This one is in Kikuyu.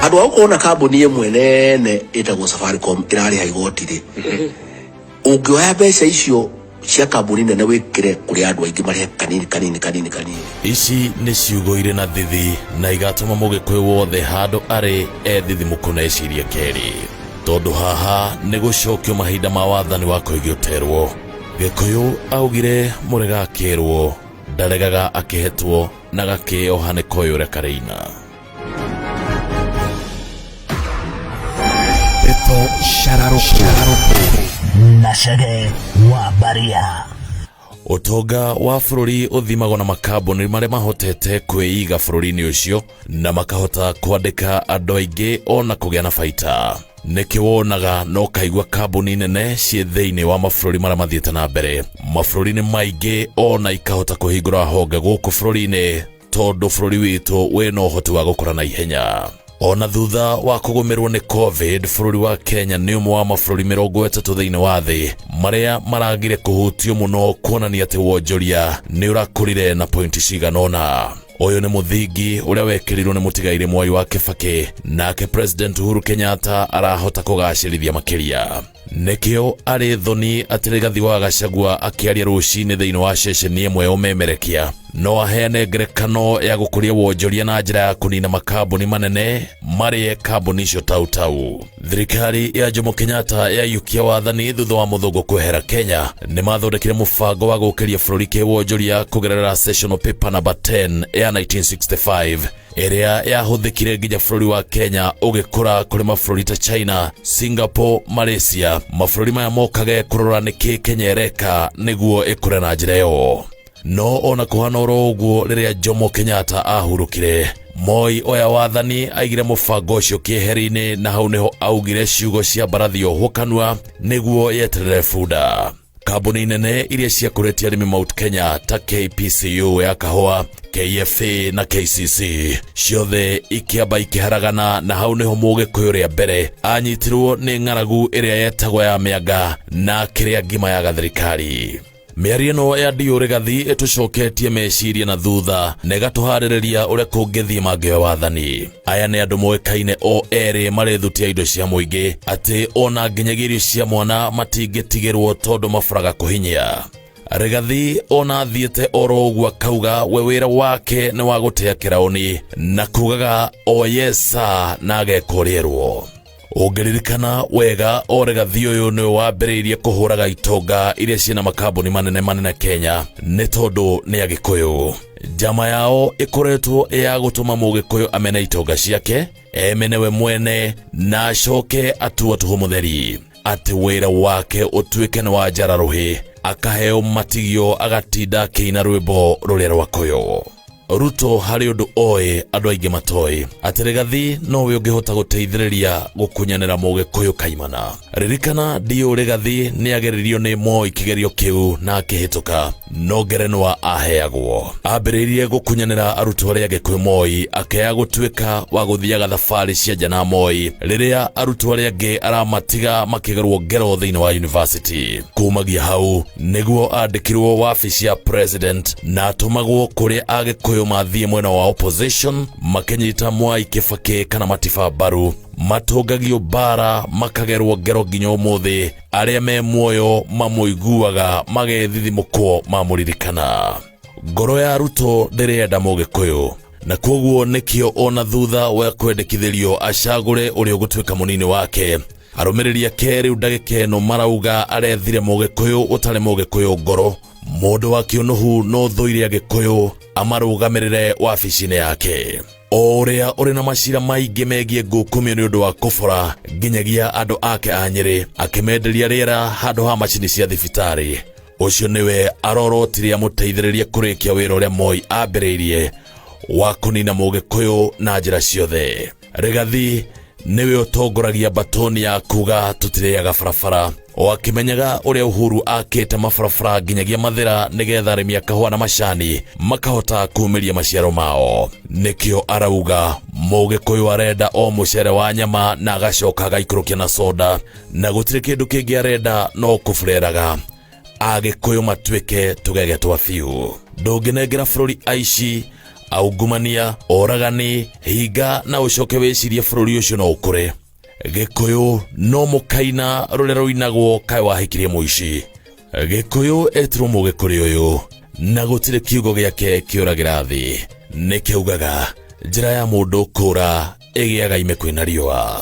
andå a gå korwo na kambuni ä mwe nene ä tagwo safaricom ä rarä ha igoti rä å ngä oya mbeca icio cia kambuni nene wä kä re kå rä andå aingä marä kanini kanini kanini kanini ici nĩ ciugo irĩ na thithi na igatũma mũgĩkũyũ wothe handũ arĩ ethithimũkũ na ecirie kerĩ tondũ haha nĩ gũcokio mahinda ma wathani wa kũigĩũterwo gĩkũyũ augire mũrega akerwo ndaregaga akĩhetwo na gakeoha nĩ koyũre kareina Ndeto cararũkũ na Chege wa Baria. Ũtonga wa bũrũri ũthimagwo na makambuni marĩa mahotete kwĩiga bũrũri-inĩ ũcio na makahota kwandĩka andũ aingĩ o na kũgĩa na baita. nĩkĩ wonaga na ũkaigua kambuni nene ciĩ thĩinĩ wa mabũrũri marĩa mathiĩte na mbere mabũrũri-inĩ maingĩ ona ikahota kũhingũra honge gũkũ bũrũri-inĩ tondũ bũrũri witũ wĩna ũhoti wa gũkũra na ihenya ona thutha wa kũgũmĩrwo nĩ covid bũrũri wa kenya nĩ ũmwe wa mabũrũri mĩrongo ĩtatũ thĩinĩ wa thĩ marĩa maragire kũhutio mũno kuonania atĩ wonjoria nĩ ũrakũrire na pointi cigana ũna Ũyũ nĩ mũthingi ũrĩa wekĩrirwo nĩ mũtigairĩ Mwai wa Kĩbakĩ, nake President Uhuru Kenyatta arahota kũgacĩrithia makĩria. Nĩkĩo arĩ thoni atĩ Rigathi wa Gachagua akĩaria rũcinĩ thĩinĩ wa ceceni ĩmwe ya ũmemerekia no aheane ngerekano ya gũkũria wonjoria na njĩra ya kũnina makambuni manene marĩe kambuni icio tautau thirikari ya jomo kenyatta yayukia wathani thutha wa mũthũngũ kwehera kenya nĩ mathondekire mũbango wa gũkĩria bũrũri kĩwonjoria kũgerera sessional paper number 10 ya 1965 ĩrĩa yahũthĩkire nginya bũrũri wa kenya ũgĩkũra kũrĩ mabũrũri ta china singapore malaysia mabũrũri maya mokage kũrora nĩkĩ kenya ĩreka nĩguo ĩkũre na njĩra ĩyo no ona kũhana oro ũguo rĩrĩa jomo kenyatta ahurũkire moi oya wathani aigire mũbango ũcio kĩeheri-inĩ na hau nĩho augire ciugo cia mbarathi ohwo kanua nĩguo yeterere bunda kambuni nene iria ciakũrĩtie arĩmi mount kenya ta kpcu ya kahũa kfa na kcc ciothe ikĩamba ikĩharagana na hau nĩho mũgĩkũyũ rĩa mbere anyitirwo nĩ ng'aragu ĩrĩa yetagwo ya mĩanga na akĩrĩa ngima ya gathirikari mĩario ĩno ya ndiũ rĩgathi ĩtũcoketie meciria na thutha na ĩgatũharĩrĩria ũrĩa kũngĩthiĩ mangĩoya wathani aya nĩ andũ moĩkaine o erĩ marethutia indo cia mũingĩ atĩ ona nginyagia irio cia mwana matingĩtigĩrwo tondũ maburaga kũhinyia Rigathi ona athiĩte oro ũguo akauga we wĩra wake nĩ wa gũtĩa kĩraũni na kugaga oyesa na agekũrĩrwo ũngĩririkana wega oregathi ũyũ nĩwe wambĩrĩirie kũhũraga itonga iria ciĩna makambuni manene manene kenya nĩ tondũ nĩ agĩkũyũ njama yao ĩkoretwo ĩ ya gũtũma mũgĩkũyũ amene itonga ciake emene we mwene na acoke atua tũhũ mũtheri atĩ wĩra wake ũtuĩke nĩ wa njara rũhĩ akaheo matigio agatinda akĩina rwĩmbo rũrĩa rwakũyũ ruto harĩ ũndũ oĩ andũ aingĩ matoĩ atĩ rĩgathi nowe ũngĩhota gũteithĩrĩria gũkunyanĩra mũgĩkũyũ kaimana ririkana ndiũ rĩgathi nĩageririo nĩ moi kĩgerio kĩu na akĩhĩtũka no ngerenwa aheagwo ambĩrĩirie gũkunyanĩra arutwo arĩa angĩ kwĩ moi akĩaya gũtuĩka wa gũthiaga thabarĩ cia nja na moi rĩrĩa arutwo arĩa angĩ aramatiga makĩgerwo ngero thĩinĩ wa yunivasĩtĩ kumagia hau nĩguo andĩkĩrwo wabici ya president na atũmagwo kũrĩa agĩkũyũ mathiĩ mwena wa opposition makĩnyita mwai kĩbakĩ kana matiba mbaru matũngagio bara makagerwo ngero nginya ũmũthĩ arĩa me muoyo mamũiguaga magethithimũkwo mamũririkana ngoro ya ruto ndĩrenda mũgĩkũyũ na kwoguo nĩkĩo ona thutha wa kwendekithĩrio acagũre ũrĩa ũgũtuĩka mũnini wake arũmĩrĩri ake rĩu ndagĩka ĩno marauga arethire mũgĩkũyũ ũtarĩ mũgĩkũyũ ngoro mũndũ wa kĩũnũhu no thũire agĩkũyũ amarũgamĩrĩre wabici-inĩ yake o ũrĩa ũrĩ na macira maingĩ megiĩ ngũkumio nĩ ũndũ wa kũbora nginyagia andũ ake a nyĩrĩ akĩmenderia rĩera handũ ha macini cia thibitarĩ ũcio nĩwe arorotire amũteithĩrĩrie kũrĩkia wĩra ũrĩa moi ambĩrĩirie wa kũnina mũgĩkũyũ na njĩra ciothe Regathi nĩwe ũtongoragia mbatoni ya kuga tũtirĩaga barabara o akĩmenyaga ũrĩa Uhuru akĩte mabarabara nginyagia mathĩra nĩgetha arĩmi a kahũa na macani makahota kumĩria maciaro mao nĩkĩo arauga mũgĩkũyũ arenda o mũcere wa nyama na agacoka agaikũrũkia na soda na gũtirĩ kĩndũ kĩngĩ arenda no kũbureraga agĩkũyũ matuĩke tũgege twa biũ ndũngĩnengera bũrũri aici aungumania oragani hinga na ũcoke wĩcirie bũrũri ũcio no ũkũre gĩkũyũ no mũkaina rũrĩa rũinagwo kaĩ wahikirie mũici gĩkũyũ etirwo mũgĩ kũrĩ ũyũ na gũtirĩ kiugo gĩake kĩũragĩra thĩ nĩkĩugaga njĩra ya mũndũ kũra ĩgĩaga ime kwĩna riũa